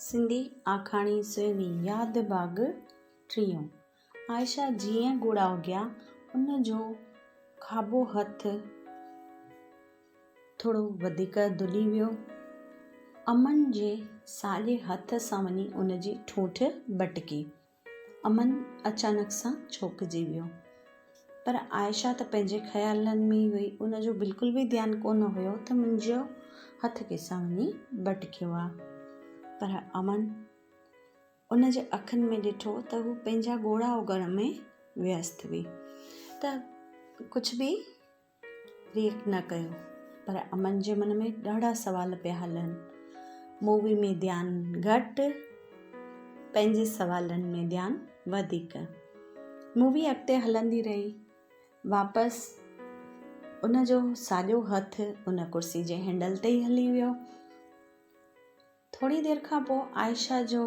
سنڌي آکاڻي سويني ياد باغ ٽيون عائشه جيئن ڳوڙها اگهيا ان جو کاٻو هٿ ٿورو وڌيڪ دلي ويو امن جي ساڄي هٿ سان وڃي ان جي ٺونٺ ٻٽڪي امن اچانڪ سان چونڪجي ويو. پر عائشه ته پنهنجي خيالن ۾ ئي هئي. ان جو بلڪل به ڌيان ڪونه هيو ته منهنجو هٿ ڪيسان وڃي ٻٽڪيو آ. پر امن ان جي اکين ۾ ڏٺو ته هو پنهنجا ڳوڙها اوڳڻ ۾ ويست هئي ته ڪجهه به ريئڪٽ نه ڪيو پر امن جي من ۾ ڏاڍا سوال پيا هلن مووي ۾ ڌيان گهٽ پنهنجي سوالن ۾ ڌيان وڌيڪ مووي اڳتي هلندي رهي واپس ان جو ساڄو هٿ ان ڪرسي جي هينڊل تي ئي هلي ويو ٿوري دير کان پوء عائشه جو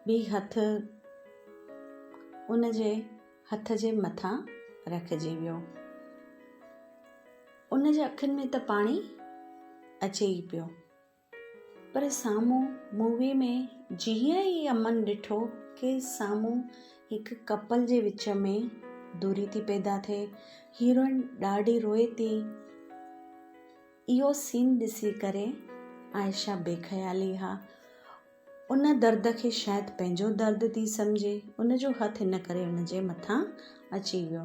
به هٿ ان جي هٿ جي مٿان رکجي ويو. ان جي اکين ۾ ته پاڻي اچي ئي پيو. پر سامهون مووي ۾ جيئن ئي امن ڏٺو ڪي سامهون هڪ ڪپل جي وچ ۾ دوري ٿي پيدا ٿئي، هيروئن ڏاڍي روئي ٿي. اهو سين ڏسي ڪري عائشه بي خيالي ها ان درد کي شايد پنهنجو درد ٿي سمجهي ان جو هٿ ان ڪري ان جي مٿان اچي ويو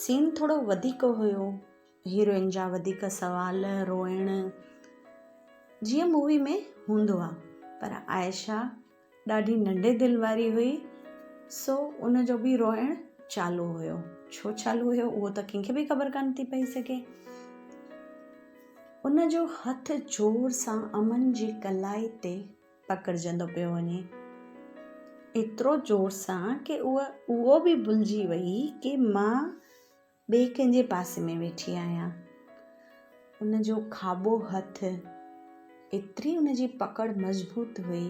سين ٿورو وڌيڪ هيو هيروئن جا وڌيڪ سوال روئڻ جيئن مووي ۾ هوندو آهي پر عائشه ڏاڍي ننڍي دل واري هئي سو ان جو به روئڻ چالو هيو ڇو چالو هيو اهو ته ڪنهن کي به خبر ڪانه ٿي پئي سگهي ان جو هٿ زور سان امن جي ڪلائي تي پڪڙجندو پيو وڃي ايترو زور سان ڪي اهو به ڀلجي وئي ڪي مان ٻئي ڪنهن جي پاسي ۾ ويٺي آهيان. ان جو کاٻو هٿ ايتري ان جي پڪڙ مضبوط هئي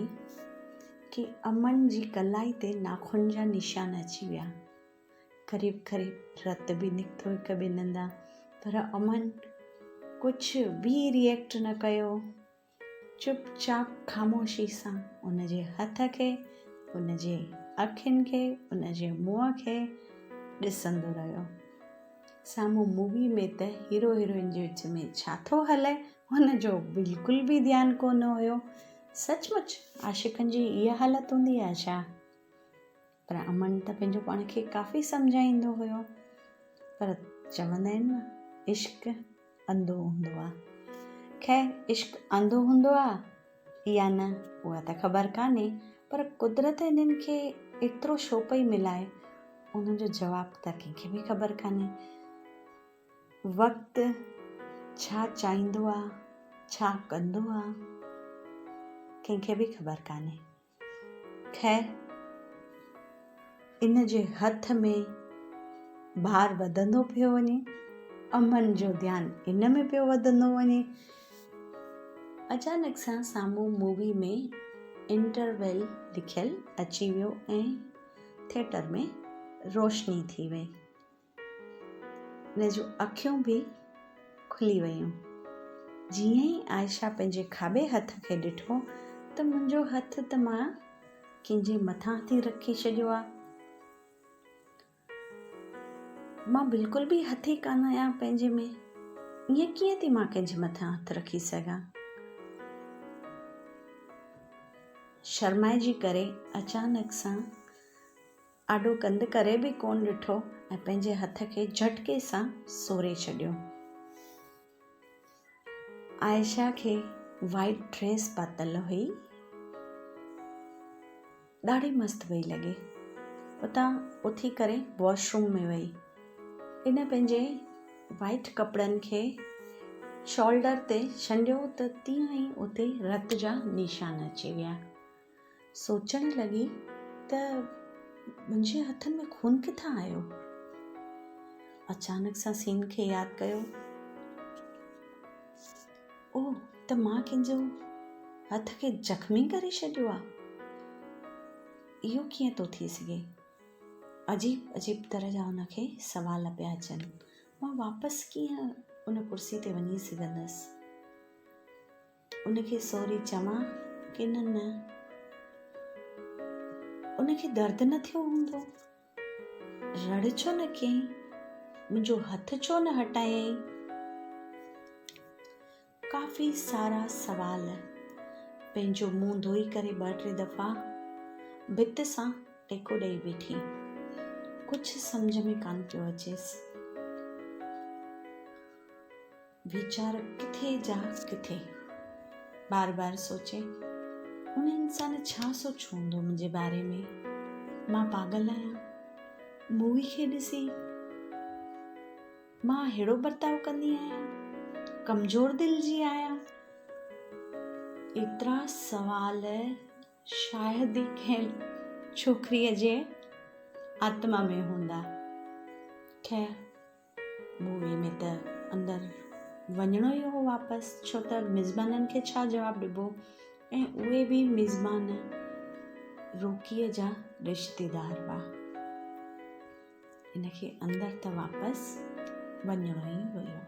ڪي امن جي ڪلائي تي ناخن جا نشان اچي ويا. قريب قريب رت به نڪتو هڪ ٻن هنڌان پر امن ڪجهه به ريئيڪٽ نه ڪيو. چپ چاپ خاموشي سان ان جي هٿ کي، ان جي اکين کي، ان جي منهن کي ڏسندو رهيو. سامهون مووي ۾ ته هيرو هيروئن جي وچ ۾ ڇا ٿو هلي ان جو بلڪل به ڌيان ڪونه هيو. سچ مچ عاشقن جي اها حالت هوندي آهي ڇا؟ پر امن ته پنهنجو پاڻ کي ڪافي سمجهائيندو هيو پر چوندا آهن نه عشق انڌو هوندو آ خير عشق انڌو هوندو آ يا نه اها ته خبر ڪانهي پر قدرت انهن کي ايترو شو پئي ملائي ان جو جواب ته ڪنهن کي به خبر ڪانهي وقت ڇا چاهيندو آ ڇا ڪندو آ ڪنهن کي به خبر ڪانهي خير ان جي هٿ ۾ بار وڌندو پيو وڃي امن جو ڌيان ان ۾ پيو وڌندو وڃي اچانڪ سان سامهون مووي ۾ انٽرويل لکيل اچي ويو ۽ ٿيٽر ۾ روشني ٿي وئي هن جون اکيون به کلي ويون. جيئن ئي عائشه پنهنجي کاٻي هٿ کي ڏٺو ته منهنجو هٿ ته مان ڪنهن جي مٿان ٿي رکي ڇڏيو آ. مان بلڪل به هٿي ڪانه آهيان پنهنجي ۾. ائين ڪيئن ٿي مان ڪنهن جي مٿان هٿ رکي سگهان. شرمائجي ڪري اچانڪ سان آڏو ڪنڌ ڪري به ڪونه ڏٺو ۽ پنهنجي هٿ کي جهٽڪي سان سوري ڇڏيو. عائشه کي وائيٽ ڊريس پاتل هئي. ڏاڍي مست پئي لڳي. اتان اٿي ڪري واش روم ۾ وئي. ان پنهنجي وائيٽ ڪپڙن کي شولڊر تي شنڊيو ته تيئن ئي اتي رت جا نشان اچي ويا. سوچڻ لڳي ته منهنجي هٿن ۾ خون ڪٿان آيو؟ اچانڪ سان سين کي ياد ڪيو، او ته مان ڪنهن جو هٿ کي زخمي ڪري ڇڏيو آ. اهو ڪيئن ٿو ٿي سگهي؟ عجيب عجيب طرح جا هن کي سوال پيا اچن. مان واپس ڪيئن ان ڪرسي تي وڃي سگهندس؟ ان کي سوري چوان ڪن نه؟ ان کي درد نه ٿيو هوندو؟ رڙ ڇو نه ڪيئين؟ منهنجو هٿ ڇو نه هٽايائين؟ ڪافي سارا سوال پنهنجو منهن ڌوئي ڪري ٻه ٽي دفعا ڀت سان ٽيڪو ڏيئي بيٺي ڪجهه سمجھ ۾ ڪان پيو اچيس ويچار ڪٿي جا ڪٿي بار بار سوچي ان انسان ڇا سوچيو هوندو منهنجي باري ۾ مان پاڳل آهيان مووي کي ڏسي مان اهڙو برتاء ڪندي آهيان ڪمزور دل جي آهيان ايترا سوال شايد ئي کين ڇوڪريء جي آتما ۾ هوندا خير مووي ۾ ته اندر وڃڻو ئي هو واپس ڇو ته ميزبانن کي ڇا جواب ڏبو ۽ اهي به ميزبان روڪيء جا رشتيدار هئا ان کي اندر ته واپس وڃڻو ئي هيو